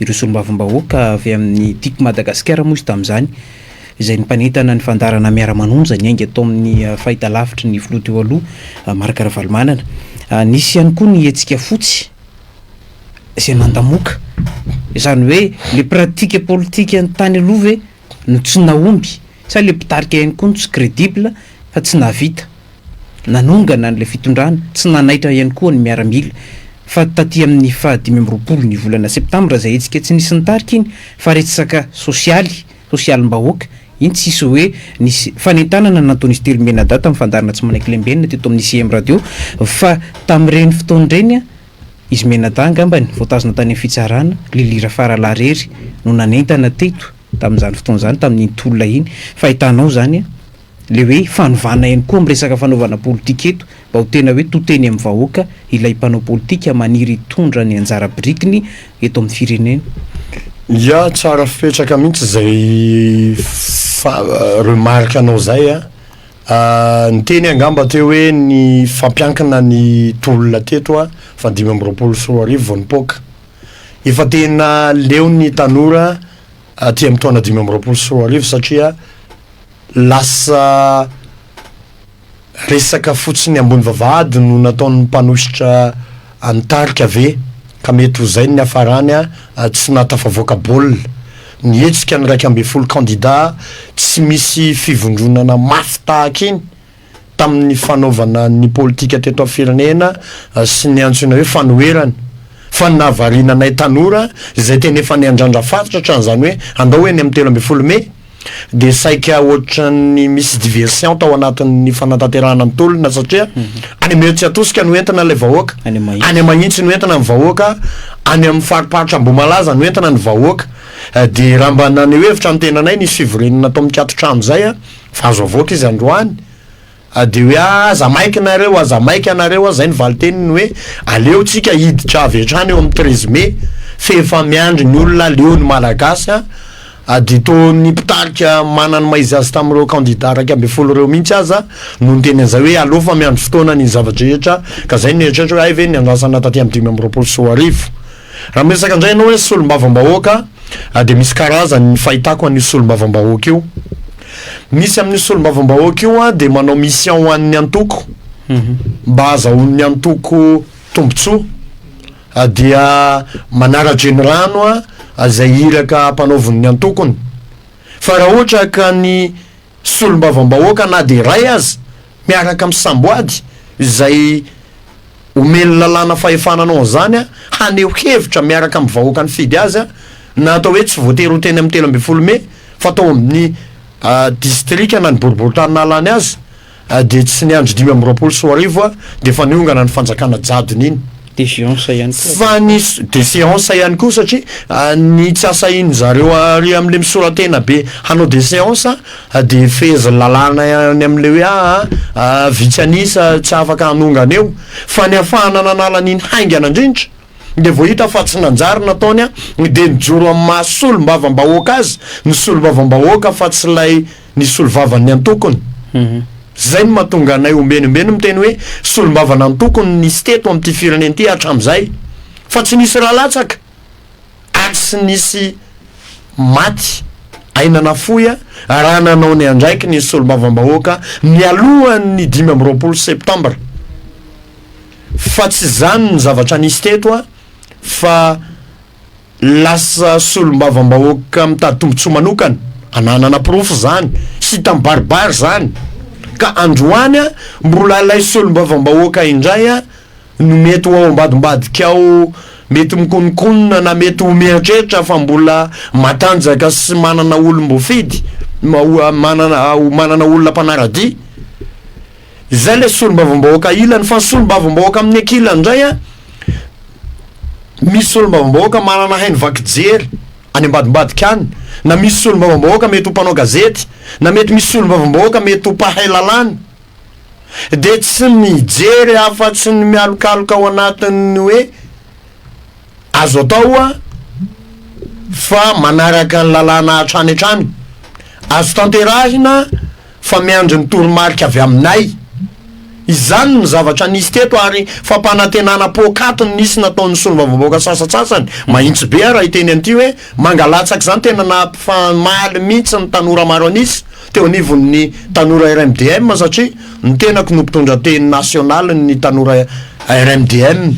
Speaker 2: Ireo solombavambahoaka avy amin'ny Tiko Madagasikara moa izy tamin'izany, izay nipanentana ny fandaharana Miara-manonja ny Ainga tao amin'ny fahitalavitry ny filoha teo aloha, Marc Ravalomanana. Nisy ihany koa ny hetsika fotsy izay nandamoaka izany hoe le pratika politikan'ny tany aloha ve? no tsy nahomby sa ilay mpitarika ihany koa no tsy credible fa tsy nahavita nanongana an'ilay fitondrana, tsy nanaitra ihany koa ny miaramila fa taty amin'ny faha dimy amby roapolo ny volana septambra izay hetsika tsy nisy nitarika iny fa resaka sosialy, sosialim-bahoaka iny tsisy hoe nisy fanentanana nataon'izy telo mianadahy tamin'ny fandaharana tsy manaiky lembenina teto amin'ny CM radio fa tamin'ireny fotoana ireny Izy mianadahy angambany voatazona tany amin'ny fitsarana, Lily Rafaralahirery no nanentana teto tamin'izany fotoana izany tamin'iny tolona iny fa hitanao izany an, ilay hoe fanovana ihany koa amin'ny resaka fanaovana politika eto mba ho tena hoe to teny amin'ny vahoaka ilay mpanao politika maniry hitondra ny anjara birikiny eto amin'ny firenena. Ya,
Speaker 1: tsara fipetraka mihitsy izay remarque-nao izay an! Niteny angamba teo hoe ny fampiankina ny tolona teto a, fa dimy amby roapolo sy roa arivo vao nipoaka. Efa tena leo ny tanora aty amin'ny taona dimy amby roapolo sy roa arivo satria lasa resaka fotsiny ambony vavahady no nataon'ny mpanosotra Any tarika ve? Ka mety ho zay ny niafarany a! Tsy nahatafavoaka baolina. Ny hetsika ny iraika ambin'ny folo kandida tsy misy fivondronana mafy tahaka iny tamin'ny fanaovana ny politika teto amin'ny firenena sy ny antsoina hoe fanoherana. Fa ny nahavariana anay tanora izay tena efa niandrandra faritra hatrany izany hoe andao eny amin'ny telo ambin'ny folo mey? dia saika ohatran'ny misy diversion tao anatin'ny fanatanterahana ny tolona satria any amin'ny Etsy Atosika no entina ilay vahoaka, Any Mahitsy. any Mahitsy no entina ny vahoaka, any amin'ny fariparitra Ambohimalaza no entina ny vahoaka. Eh, Dia raha mba naneho hevitra ny tenanay nisy fivoriana natao mikatotrano izay, ah, fa azo avoaka izy androany. Dia hoe ah aza maika nareo aza maika nareo ah zay ny valiteniny hoe aleo tsika hiditra avy hatrany eo amin'ny treize mai f'efa miandry ny olona aleo ny malagasy an ah dia toa ny mpitarika manany maizy azy tamin'ireo candidats iraika ambin'ny folo ireo mihitsy aza no niteny an'izay hoe aleo fa miandry fotoana ny zava-drehetra ka zay no nieritreritra hoe hay ve ny andrasana taty amin'ny dimy amby roapolo sy roa arivo Raha miresaka indray ianao hoe solombavambahoaka dia misy karazany ny fahitako an'io solombavambahoaka io. Misy amin'io solombavambahoaka io dia manao mission ho an'ny antoko mba hahazahoan'ny antoko tombontsoa dia manara-drenirano izay iraka ampanaovin'ny antokony. Fa raha ohatra ka ny Solombavambahoaka na dia iray aza miaraka amin'ny samboady izay omen'ny lalàna fahefana hanao an'izany haneho hevitra miaraka amin'ny vahoaka nifidy azy na atao hoe tsy voatery ho teny amin'ny telo ambin'ny folo mey fa tao amin'ny distrika na ny boriboritany nahalany azy dia tsy niandry dimy amby roapolo sy roa arivo dia efa niongana ny fanjakana jadona iny. De seance ihany koa.
Speaker 2: Fa ny de
Speaker 1: seance ihany koa satria ny tsy asahin'ny zareo ary amin'ilay misora-tena be hanao de seance de fehezin'ny lalàna any amin'ilay hoe aa vitsy an'isa tsy afaka hanongana eo fa ny hafahana nanala an'iny haingana indrindra de vao hita fa tsy nanjary nataony de nijoro amin'ny maha solombavambahoaka azy ny solombavambahoaka fa tsy ilay ny solovavan'ny antokony. Izay no mahatonga anay ombenombe ny miteny hoe solombavana antokony no nisy teto amin'ity firenena ity hatramin'izay. Fa tsy nisy ra latsaka ary tsy nisy maty aina nafoy raha nanao ny andraikiny ny solombavambahoaka nialohan'ny dimy amby roapolo septambra. Fa tsy izany ny zavatra nisy teto fa lasa solombavambahoaka mitady tombotsoa manokana ananana porofo zany hita mibaribary zany ka androany a mbola ilay solombavambahoaka indray a no mety ho ao ambadimbadika ao mety mikononkonona na mety ho mieritreritra fa mbola matanjaka sy manana olom-boafidy ma- ho manana ho manana olona mpanaradia Izay ilay solombavambahoaka ilany, fa ny solombavambahoaka amin'ny ankilany indray an, misy solombavambahoaka manana haino vaky jery any ambadimbadika any, na misy solombavambahoaka mety ho mpanao gazety, na mety misy solombavambahoaka mety ho mpahay lalàna, dia tsy mijery afa-tsy ny mialokaloka ao anatin'ny hoe azo atao ho'a fa manaraka ny lalàna hatrany hatrany, azo tanterahina, fa miandry ny toromarika avy aminay. Izany ny zavatra nisy teto ary fampanantenana poakaty no nisy nataon'ny solombavambahoaka sasatsasany, mahitsy be ary hiteny an'ity hoe mangalatsaka izany tena nampifamaly mihitsy ny tanora maro an'isa teo anivon'ny tanora RMDM satria ny tenako no mpitondra teny nasionalin'ny tanora RMDM.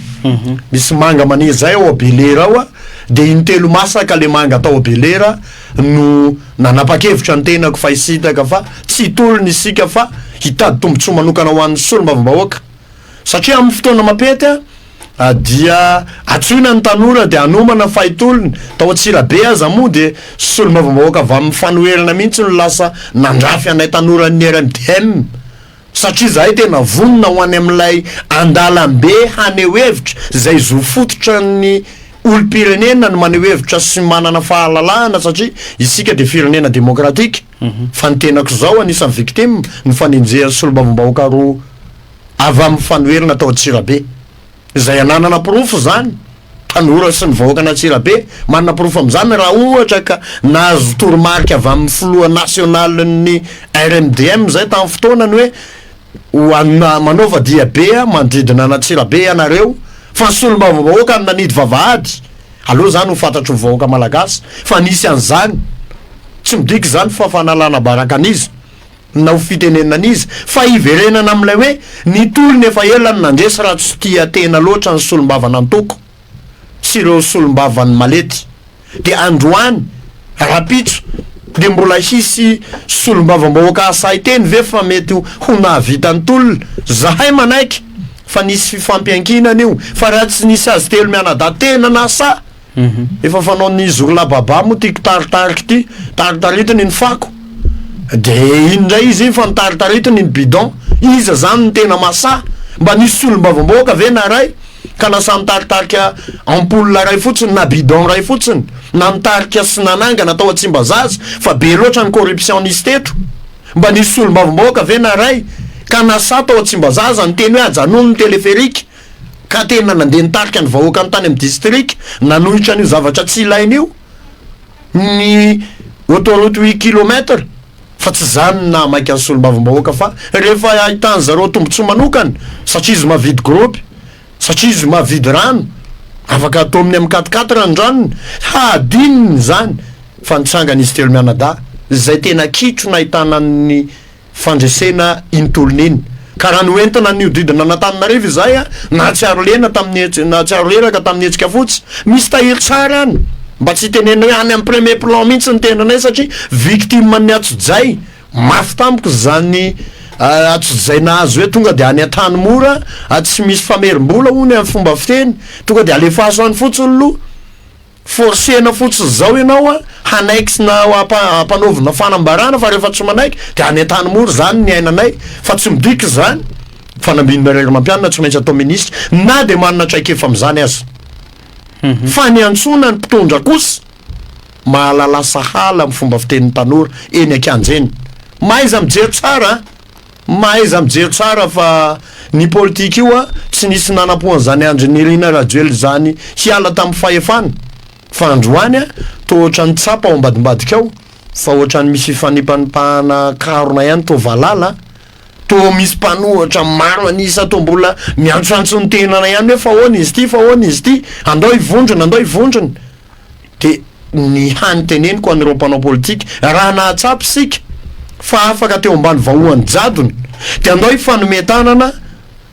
Speaker 1: Misy manga maniry zay ao Belera ao a, dia intelo masaka le manga tao Belera, no nanapa-kevitra ny tenako fa hisintaka fa tsy hitolona isika fa hitady tombontsoa manokana ho an'ny solombavambahoaka satria amin'ny fotoana mapety dia atsoina ny tanora dia anomana fa hitolony tao Antsirabe aza moa dia solombavambahoaka avy amin'ny fanoherana mihitsy no lasa nandrafy anay tanora ny RMDM Satria izahay tena vonona ho any amin'ilay andalam-be haneho hevitra izay zo fototra ny olom-pirenena ny maneho hevitra sy manana fahalalahana satria isika dia firenena demokratika fa ny tenako izao anisan'ny victime ny fanenjehan'ny solombavambahoaka roa avy amin'ny fanoherana tao Antsirabe. izay ananana porofo izany, tanora sy ny vahoakan'Antsirabe, manana porofo amin'izany raha ohatra ka nahazo toromarika avy amin'ny filoha nasionalin'ny RMDM izay tamin'ny fotoanany hoe ho anona manaova diabe aho manodidina an'Antsirabe ianareo fa ny solombavambahoaka no nanidy vavahady, aleo izany ho fantatry ny vahoaka malagasy fa nisy an'izany, tsy midika izany fa fanalana baraka an'iza. na ho fitenenina an'iza, fa hiverenana amin'ilay hoe ny tolona efa ela no nandresy raha tsy tia tena loatra ny solombavan'antoko sy ireo solombavan'ny malety dia androany rahampitso dia mbola hisy solombavambahoaka hasahy teny ve fa mety ho nahavita ny tolona? zahay manaiky fa nisy fifampiankinana io fa raha tsy nisy azy telo mianadahy tena nasahy Efa fanaon'ny Zurla Baba moa ity kitaritarika ity, taritaritiny ny fako de iny ndray izy iny fa notaritaritiny ny bidon, iza zany no tena masaha? Mba nisy solombavambahoaka ve naray ka nasaha nitaritarika ampoule ray fotsiny na bidon ray fotsiny na nitarika sy nanangana tao Tsimbazaza fa be loatra ny corruption nisy teto? Mba nisy solombavambahoaka ve naray ka nasaha tao Tsimbazaza niteny hoe ajanony ny téléphérique ka tena nandeha nitarika ny vahoakany tany amin'ny distrika nanohitra an'io zavatra tsy ilaina io ny autoroute huit kilomètre fa tsy izany no nahamaika ny solombavambahoaka fa rehefa ahitan'ny zareo tombontsoa manokana satria izy mavidy gropy satria izy mavidy rano afaka atominy amin'ny quatre quatre ny ranony hadininy izany fa nitsangan'izy telo mianadahy izay tena kitro nahitana ny fandresena iny tolona iny. Ka raha noentina nihodidina an'Antananarivo izahay, nahatsiaro lena tamin'ny hetsika, nahatsiaro reraka tamin'ny hetsika fotsy. Misy tahiry tsara any, mba tsy hitenenina hoe any amin'ny premier plan mihitsy ny tendrinay satria victime an'ny atsojay mafy tampoka izany atsojay nahazo hoe tonga dia any Antanimora, tsy misy famerim-bola hono amin'ny fomba fiteny, tonga dia alefaso any fotsiny loha. Forcena fotsiny zao ianao a hanaiky na hampanaovina fanambarana fa rehefa tsy manaiky dia any antany mora zany ny ainanay fa tsy midika izany fa nambinina ray ramampianina tsy maintsy atao ministra na dia manana traikefa amin'izany aza mhm. fa ny antsoina ny mpitondra kosa mahalala sahala amin'ny fomba fitenin'ny tanora eny an-kianja eny mahaiza mijery tsara Mahaiza mijery tsara fa ny politika io an, tsy nisy nanampo an'izany Andry Nirina Rajoelina izany hiala tamin'ny fahefana fa androany an, toa ohatran'ny tsapa ao ambadimbadika ao fa ohatran'ny misy fifanipanipahana karona ihany toa valala an, toa misy mpanohitra maro an'isa toa mbola miantsoantso ny tenany ihany hoe fa ahoana izy ity, fa ahoana izy ity, andao hivondrona, andao hivondrona. Dia ny hany teneniko an'ireo mpanao politika, raha nahatsapa isika fa afaka teo ambany vahoan'ny jadona, dia andao hifanome tanana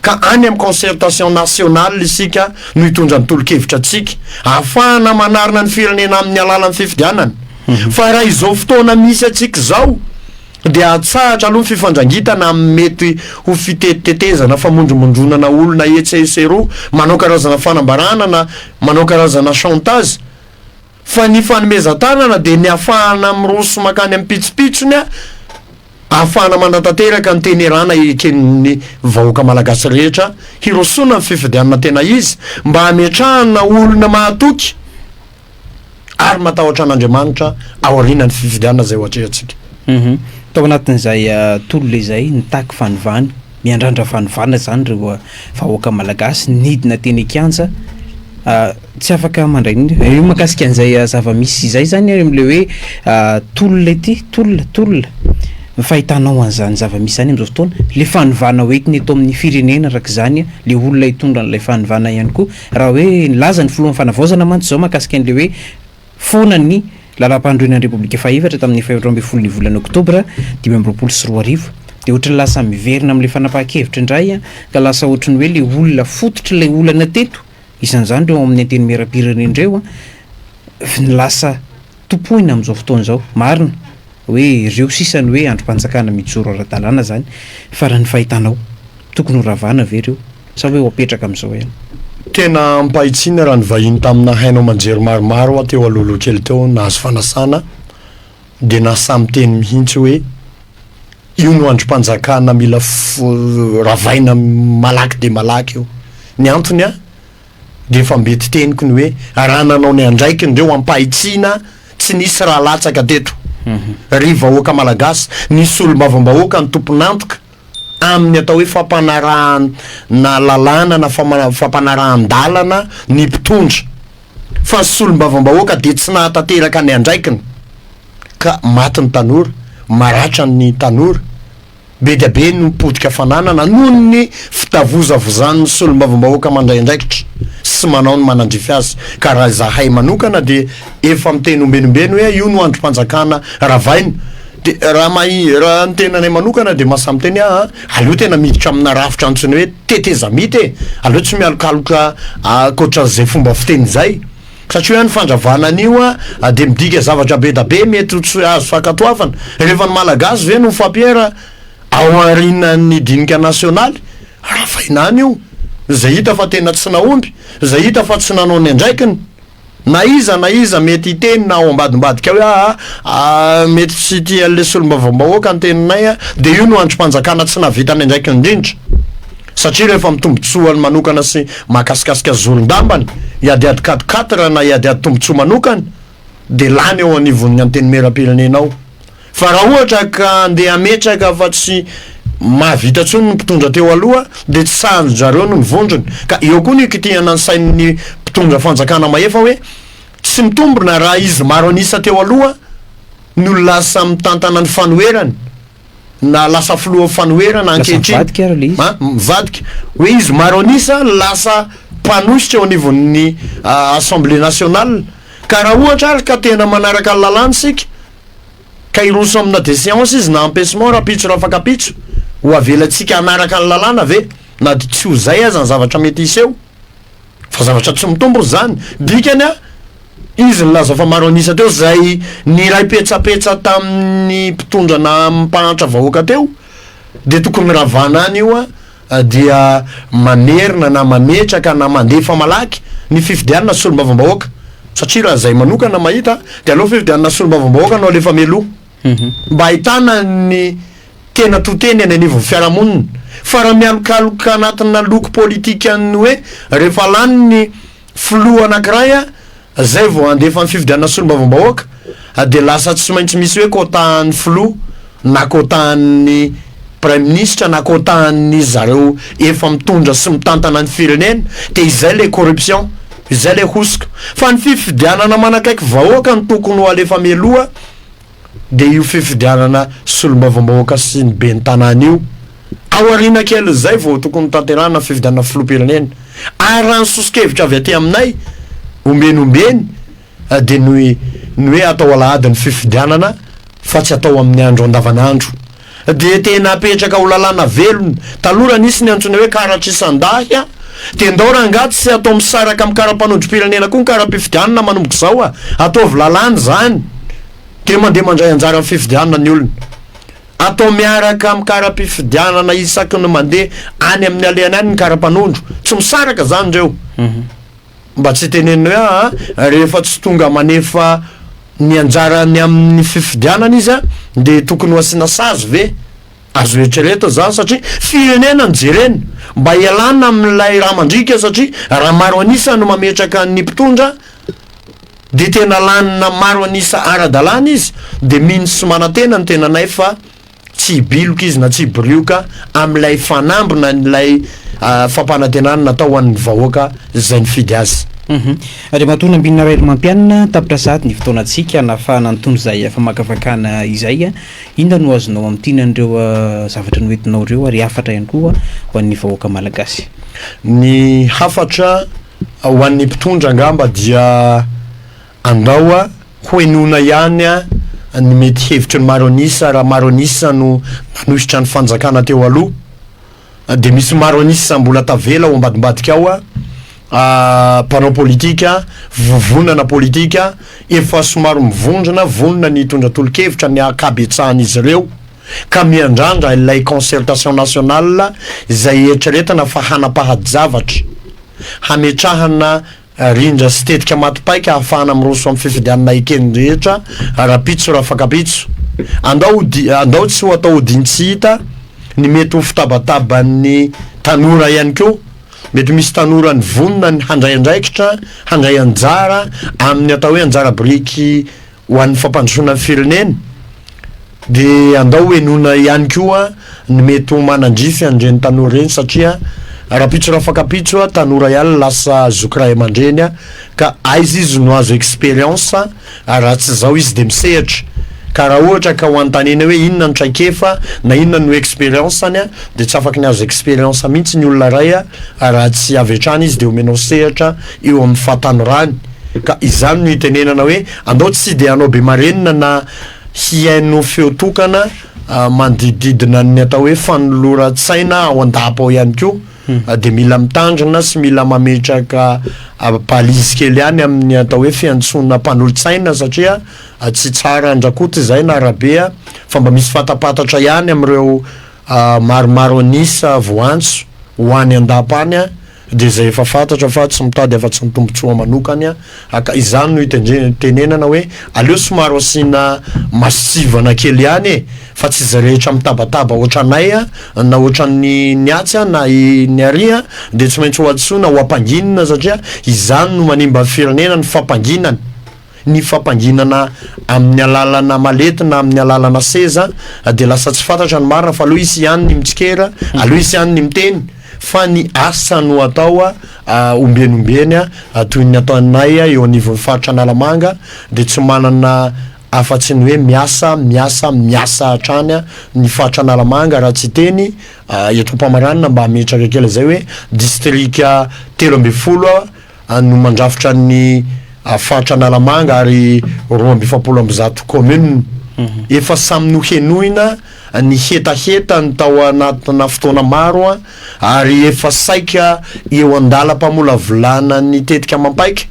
Speaker 1: ka any amin'ny concertation nationale isika no hitondra ny tolo-kevitra antsika, ahafahana manarina ny firenena amin'ny alalan'ny fifidianana. Fa raha izao fotoana misy antsika izao, dia atsahatra aloha ny fifandrangitana amin'ny mety ho fitetitetezana, famondromondronana olona etsy sy eroa, manao karazana fanambarana na manao karazana chantage, fa ny fanomezan-tanana dia ny afahana miroso mankany amin'ny pitsopitsony ahafahana manatanteraka ny teny erana eken'ny vahoaka malagasy rehetra hirosoana amin'ny fifidianana tena izy mba hametrahana olona mahatoky ary matahotra an'Andriamanitra aorianan'ny fifidianana izay ho atrehantsika. Uhum. Tao
Speaker 2: anatin'izay tolona izay nitaky fanovana, miandrandra fanovana izany ireo vahoaka malagasy, nidina teny an-kianja, tsy afaka mandray ny, io mahakasika an'izay zava-misy izay izany ary amin'ilay hoe tolona ity, tolona, tolona, ny fahitanao an'izany zava-misy izany amin'izao fotoana, ilay fanovana hoentina eto amin'ny firenena araka izany, ilay olona hitondra an'ilay fanovana ihany koa, Raha hoe nilaza ny filohan'ny Fanavaozana mantsy izao mahakasika an'ilay hoe foana ny Lalampanorenan'ny Repoblika fahefatra tamin'ny faha-efatra ambin'ny folo ny volana Oktobra dimy amby roapolo sy roa arivo dia ohatran'ny lasa miverina amin'ilay fanapahan-kevitra indray ka lasa ohatran'ny hoe ilay olona fototr'ilay olana teto, isan'izany ireo ao amin'ny Antenimierampirenena ireo, ny lasa. tompoina amin'izao fotoana izao. Marina hoe ireo sisa ny hoe andrim-panjakana mijoro ara-dalàna izany fa raha ny fahitanao, tokony ho ravana ve ireo sa hoe ho apetraka amin'izao ihany? Tena
Speaker 1: ampahitsiana raha ny vahiny tamina haino aman-jery maromaro hoa teo alohaloha kely teo nahazo fanasana dia nasa miteny mihitsy hoe io no andrim-panjakana mila ravaina malaky dia malaky io. Ny antony an, dia efa mety teniko ny hoe raha nanao ny andraikiny ireo ampahitsiana tsy nisy raha latsaka teto ry vahoaka malagasy ny solombavambahoaka ny tompon'antoka amin'ny atao hoe fampanarahana lalàna na fampanarahan-dalana ny mpitondra fa ny solombavambahoaka dia tsy nahatanteraka ny andraikiny ka maty ny tanora maratra ny tanora Be dia be no potika fananana noho ny fitavozavozan'ny solombavambahoaka mandray andraikitra sy manao ny manandrify azy ka raha izahay manokana dia efa miteny ombenombeno hoe io no andrim-panjakana ravaina dia raha mahi raha ny tenanay manokana dia mahasahy miteny aho aleo tena miditra amina rafitra antsoina hoe tetezamita e aleo tsy mialokaloka ankoatran'izay fomba fiteny izay Satria an ny fandravana anio an dia midika zavatra be da be mety ho tsy azo fankatoavana rehefa ny Malagasy ve no mifampiera ao aorinan ny dinika nasionaly? Ravaina any io izay hita fa tena tsy nahomby, izay hita fa tsy nanao ny andraikiny. Na iza na iza mety hiteny na ao ambadimbadika hoe aa aa mety tsy tia an le solombavambahoaka ny teninay an dia io no andrim-panjakana tsy nahavita ny andraikiny indrindra. Satria rehefa amin'ny tombontsoany manokana sy mahakasikasika zoron-dambany, hiadiady quatre quatre na hiadiady tombontsoa manokana, dia lany eo anivon'ny Antenimierampirenena ao. Fa raha ohatra ka handeha hametraka fa tsy mahavita intsony ny mpitondra teo aloha, dia tsy sahanin-dry zareo ny vondrony. Ka eo koa no ikitihana ny sain'ny mpitondra fanjakana mahefa hoe, tsy mitombina raha izy maro an'isa teo aloha no lasa mitantana ny fanoherany. na lasa filohan'ny fanoherana ankehitriny, mivadika hoe izy maro an'isa lasa mpanosotra eo anivon'ny Assemblée nationale, ka raha ohatra ary ka tena manaraka ny lalàna isika ka hiroso amina deseance izy na empechement rahampitso rafakapitso, ho avelantsika hanaraka ny lalàna ve na tsy ho izay aza ny zavatra mety hiseho? Fa zavatra tsy mitombona izany. Dikany a, izy nilaza fa maro an'isa teo izay niray petsapetsa tamin'ny mpitondra na mpahantra vahoaka teo, dia tokony ravana any io a, dia mamerina na mametraka na mandefa malaky ny fifidianana solombavambahoaka, satria raha izay manokana mahita dia aleo fifidianana solombavambahoaka no alefa mialoha. mba ahitana ny tena to-teny eny anivon'ny fiarahamonina. Fa raha mialokaloka anatina loko politikan'ny hoe rehefa lany ny filoha anankiray izay vao handefa ny fifidianana solombavambahoaka dia lasa tsy maintsy misy hoe quota an'ny filoha na quota an'ny praiminisitra na quota an'ny zareo efa mitondra sy mitantana ny firenena dia izay ilay corruption izay ilay hosoka fa ny fifidianana manakaiky vahoaka no tokony ho alefa mialoha dia io fifidianana solombavambahoaka sy ny ben'ny tanàna io. Ao aoriana kelin'izay vao tokony hotanterahana ny fifidianana filoham-pirenena. Ary raha ny soso-kevitra avy aty aminay, ombieny ombieny, dia ny ny hoe atao alahady ny fifidianana fa tsy atao amin'ny andro andavanandro. Dia tena apetraka ho lalàna velona. Taloha raha nisy ny antsoina hoe karatrisan-dahy a! Dia ndao rangah tsy atao misaraka amin'ny karapanondrom-pirenena koa ny kara-pifidianana manomboka izao a! Ataovy lalàna izany dia mandeha mandray anjara amin'ny fifidianana ny olona. Atao miaraka amin'ny kara-pifidianana isaky ny mandeha any amin'ny alehany any ny kara-panondro. Tsy misaraka izany ireo. Mba tsy teneniny hoe aa rehefa tsy tonga manefa ny anjarany amin'ny fifidianana izy a dia tokony ho asiana sazy ve? Azo eritreretana izany satria firenena no jerena. Mba hialana amin'ilay rà mandriaka satria raha maro an'isa no mametraka ny mpitondra dia tena lanina maro an'isa ara-dalàna izy dia mino sy manantena ny tenanay fa Tsy hibiloka izy na tsy hibirioka amin'ilay fanamby na ilay fampanantenana natao ho an'ny vahoaka izay nifidy azy. Andriamatoa
Speaker 2: Nambinina Rahelomampianina, tapitra sahady ny fotoanantsika hanafahana an'itony izay famakafakana izay. Inona no azonao amintina an'ireo zavatra noentinao ireo ary hafatra ihany koa ho an'ny vahoaka malagasy? Ny
Speaker 1: hafatra ho an'ny mpitondra angamba dia Andao hohenoina ihany ny mety hevitry ny maro an'isa raha maro an'isa no nanohitra ny fanjakana teo aloha. Dia misy maro an'isa mbola tavela ao ambadimbadika ao, mpanao politika, vovonana politika efa somary mivondrona, vonona ny hitondra tolo-kevitra ny ankabetsahan'izy ireo ka miandrandra ilay concertation nationale izay eritreretina fa hanapahady zavatra hametrahana Rindra sy tetika maty paika ahafahana miroso amin'ny fifidianana eken'ny rehetra ara-pitso rafakapitso. Andao andao tsy ho atao odin-tsy hita ny mety ho fitabataban'ny tanora ihany koa. Mety misy tanora nivonona ny handray andraikitra, handray anjara amin'ny atao hoe anjara biriky ho an'ny fampandrosoana ny firenena dia andao ho henoina ihany koa ny mety ho manandrify an'ireny tanora ireny satria rapitso rafakapitso tanora ihany no lasa zoky ray aman-dreny ka aiza izy no azo experience raha tsy izao izy dia misehatra ka raha ohatra ka ho anontaniana hoe inona no traikefa na inona no experience-ny dia tsy afaky ny azo experience mihitsy ny olona ray raha tsy avy hatrany izy dia omenao sehatra eo amin'ny fahatanorany Ka izany no itenenana hoe andao tsy dia hanao be marenina na hihaino feo tokana manodidididina ny atao hoe fanoloran-tsaina ao an-dapa ao ihany koa hmm. dia mila mitandrina sy mila mametraka balise kely ihany amin'ny atao hoe fiantsoana mpanolo-tsaina satria tsy tsara andrakoty izay na arabe fa mba misy fatapatatra ihany amin'ireo maromaro anisa voantso ho any an-dapa any dia izay efa fantatra fa tsy mitady afa-tsy ny tombontsoa manokany aho ka izany no itenenana hoe aleo somary asiana masivana kely ihany e fa tsy izay rehetra mitabataba ohatranay na ohatran'ny ny atsy na ny ary dia tsy maintsy ho antsoina ho ampanginina satria izany no manimba ny firenena ny fampanginana Ny fampanginana amin'ny alalana malety na amin'ny alalana seza dia lasa tsy fantatra ny marina fa aleo hisy ihany ny mitsikera, aleo hisy ihany ny miteny fa ny asa no atao ombieny ombieny toy ny ataonay eo anivon'ny faritra Analamanga dia tsy manana afa-tsy ny hoe miasa, miasa, miasa hatrany ny faritra Analamanga raha tsy hiteny eto am-pamaranana mba hametraka kely izay hoe distrika telo ambin'ny folo any no mandrafitra ny faritra Analamanga ary roa amby efapolo amby zato commune efa samy nohenoina ny hetahetany tao anatina fotoana maro ary efa saika eo an-dalam-pamolavolana ny tetika amam-paika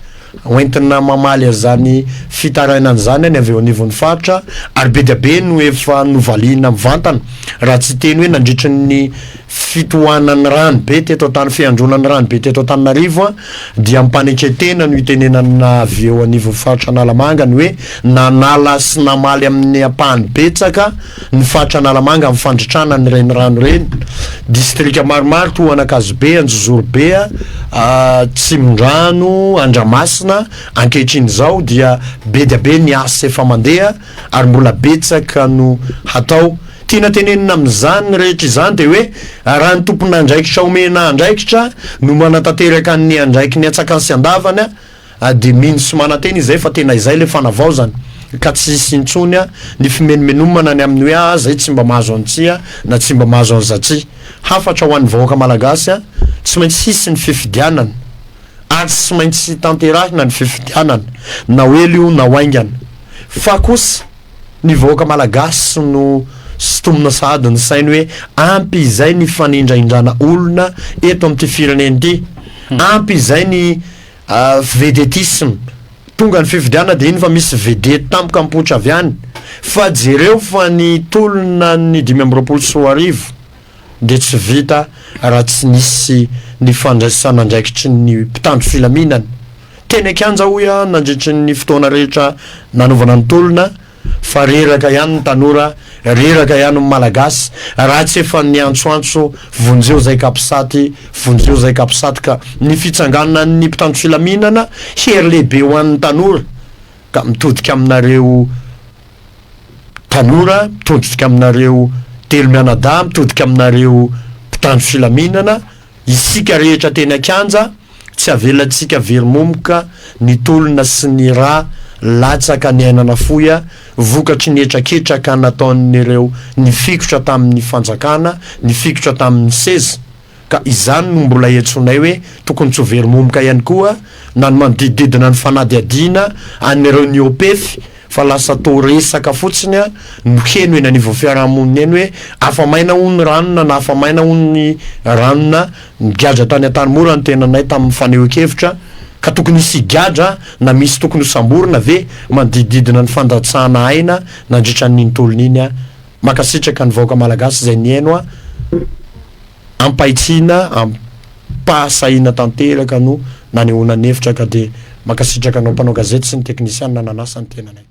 Speaker 1: hoentina mamaly an'izany fitarainana izany ny avy eo anivon'ny faritra ary be dia be no efa novaliana mivantana raha tsy hiteny hoe nandritry ny fitohanan'ny rano be teto an-tany, fihandronan'ny rano be teto Antananarivo dia ampanekentena no itenenana avy eo anivon'ny faritra Analamanga ny hoe nanala sy namaly amin'ny ampahany betsaka ny faritra Analamanga amin'ny fandritrana ny renirano ireny distrika maromaro toa an'Ankazobe, Anjozorobe, Tsimondrano, Andramasina ankehitriny izao dia be dia be ny asa efa mandeha Ary mbola betsaka no hatao. Tiana tenenina amin'izany rehetra izany dia hoe raha ny tompon'andraikitra omena andraikitra no manatanteraka ny andraikiny an-tsakany sy an-davany dia mino sy manantena izay fa tena izay ilay fanavaozana ka tsy hisy intsony ny fimenomenomana ny amin'ny hoe aah zay tsy mba mahazo an'ity na tsy mba mahazo an'izaty. Hafatra ho an'ny vahoaka malagasy, tsy maintsy hisy ny fifidianana ary tsy maintsy tanterahina ny fifidianana na ho ela io na ho haingana. Fa kosa ny vahoaka malagasy no sintomina sahady ny sainy hoe ampy izay ny fanindraindrana olona eto amin'ity firenena ity, ampy izay ny vedetisme, tonga ny fifidianana dia iny fa misy vedety tampoka mipoitra avy any, fa jereo fa ny tolona ny dimy amby roapolo sy roa arivo, dia tsy vita raha tsy nisy ny fandraisan'andraikitry ny mpitandro filaminana teny an-kianja hoy aho nandritry ny fotoana rehetra nanaovana ny tolona fa reraka ihany ny tanora, reraka ihany ny malagasy raha tsy efa niantsoantso vonjeo zay kapisaty, vonjeo zay kapisaty ka ny fitsanganan'ny mpitandro filaminana hery lehibe ho an'ny tanora ka mitodika aminareo. tanora mitodika aminareo telo mianadahy mitodika aminareo mpitandro filaminana isika rehetra teny an-kianja tsy avelantsika very momoka ny tolona sy ny ra latsaka niainana foya vokatry ny hetraketraka nataon'ireo nifikotra tamin'ny fanjakana nifikotra tamin'ny seza Ka izany no mbola iantsoanay hoe tokony tsy ho very momoka ihany koa na ny manodidididina ny fanadihadiana an'ireo niopefy fa lasa toa resaka fotsiny no heno eny anivon'ny fiarahamonina eny hoe afa-maina hono ny ranona na afa-maina hono ny ranona nigadra tany Antanimora ny tenanay tamin'ny fanehoan-kevitra ka tokony hisy higadra na misy tokony hosamborina ve manodidididina ny fandatsahana aina nandritra an'iny tolona iny Makasitraka ny vahoaka malagasy izay nihaino a ampahitsiana ampahasahiana tanteraka no nanehoana ny hevitra ka dia makasitraka anao mpanao gazety sy ny teknisianina nanasa ny tenanay.